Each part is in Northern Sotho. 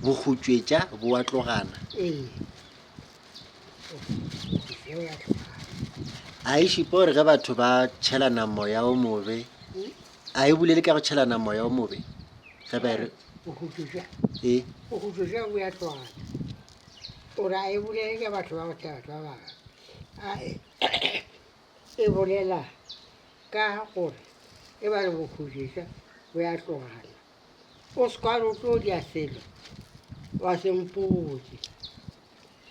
Bohutšwetša bo a tlogana. A e šupa gore ge batho ba tšhelana moya o mobe, a e bolele ka go tšhelana moya o mobe ge ba re e E bolela ka gore e ba re bokhudiša bo ya tlogana. O se ka re o tlo dia selo wa se mpotše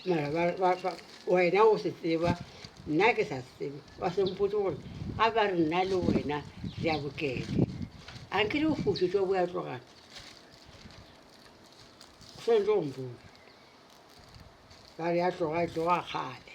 mara wena o se tseba nna ke sa se tsebe, wa se mpotše gore ga ba re nna le wena re ya bokete a nke le bokhudiša bo ya tlogana, o swanetše go mpotša. Ba re ya tloga e tloga kgale.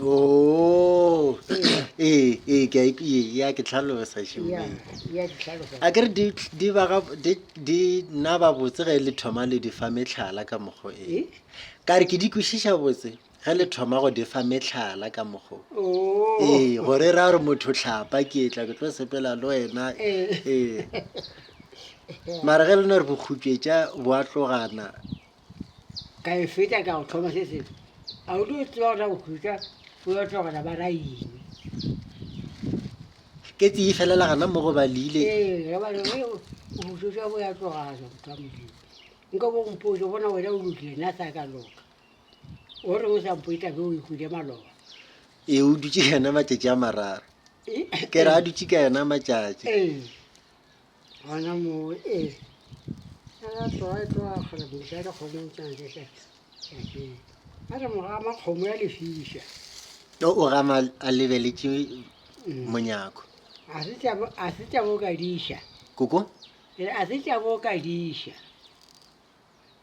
Oh, ee, ee, ke a ik- ee, ya ke tlhalosa šemeng. ya ya di hlalosa a kere di di ba ga- di- di nna ba botse ge le thoma le di fa metlhala ka mokgo e Eh? ka re ke di kwešiša botse ge le thoma go di fa metlhala ka mokgo Oh. ee gore ra re motho tlhapa ke etla ke tlo sepela le wena Eh. ee mara ge le no re bokgutšetša bo a tlogana ka e feta ka go thoma se sengwe a o tlo tseba o tla go khutsa o yo tlogela ba raime ketse e felela gana mo go balile ee ge ba re "Ee, o botsoša bo ya tlogaja motho wa modimo nka bo mpotse bona wena o lokile nna sa ka loka o reng o sa mpo e tlabe o ikhwile maloba ee o dutse yena matšatši a mararo ke re a dutse ka yena matšatši ee Gona moo, ee, a ya tloga e tloga kgona go ja dikgomong tsa ntle tša tšatšing. A re moga ama kgomo ya lefiša. O o gama a lebeletše mm. monyako. A se tšabo, a se tšabo ka diša. Koko? E a se tšabo ka diša.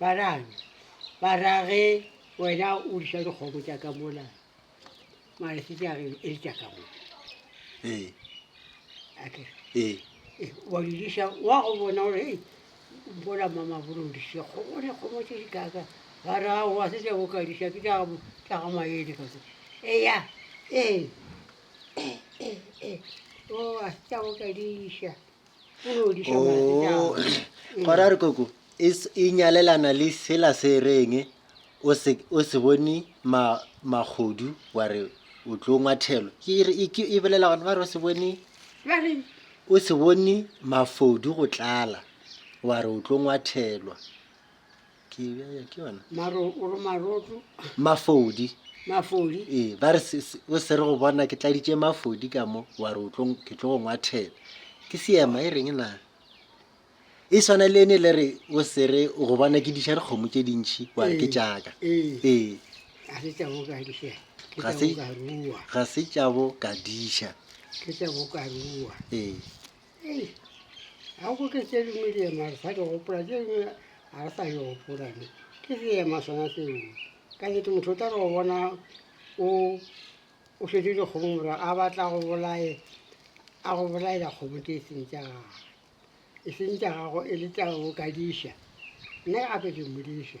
Ba rang? Ba ra ge wena o disa dikgomo tša ka mola malese tša ge e le tša ka mola ee ake ee eh, wa di disa wa go bona gore ei mpola mamabolo o dise kgomo ne kgomo tše di kaka ba ra wa se tša boka disa ke tša gabo tša ga maele ka eya ee eh, eh, eh, eh, eh, o a se tša boka disa Oh, gora re koko e s- e nyalelana le sela se reng o se o se bone ma magodu wa re o tlo ngwathelo ke e re e ke e bolela gone ba re o se bone ba re o se bone mafodu go tlala wa re o tlo ngwathelwa ke ya ya ke yona maro o re maroto mafodi mafodi ee ba re se- se- o se re go bona ke tladitše mafodi ka mo wa re o tlo- ke tlo go ngwathela ke seema e reng na e swana le ene le re o se re o go bona ke diša dikgomo tše dintšhi wa re ke Ee, jaaka ee. ee a se tša boka diša ke Ga tša se- boka rua ga se tšabo ka diša ke tša boka rua ee Ei, a go ke tše dingwe di ema re sa di gopola tše dingwe ga re sa di gopola ne ke seema sona seo ka nete motho o tla re go bona o o šwetse dikgomo mora a batla go bolae a go bolaela kgomo tse e seng tša gago e seng tša gago e le tša go kadiša nna ke gape ke mmodiša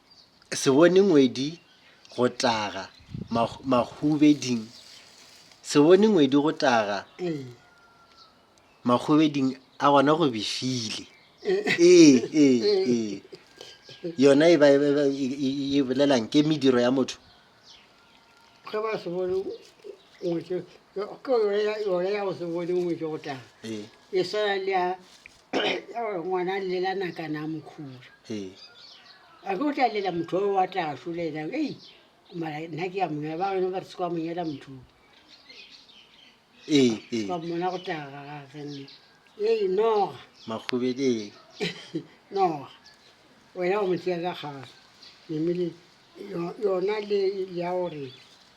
se bone ngwedi go taga Mag- magubeding se bone ngwedi go taga ee magubeding a gona go befile ee ee ee yona e ba- e ba- e- e- e bolelang ke mediro ya motho ge ba se bone ngwetse ke yone ya- yone ya go se bone ngwetse go taga ee e swana le ya ngwana llela nakana a mokhura a ke o tla lela motho o wa tla solela ei mara nna ke ya monyela ba bangwe ba re se kwa monyela motho ka mmona go taga gage nne ee noga makgobedi noga wena o mo tšea ka kgale memele yona le ya gore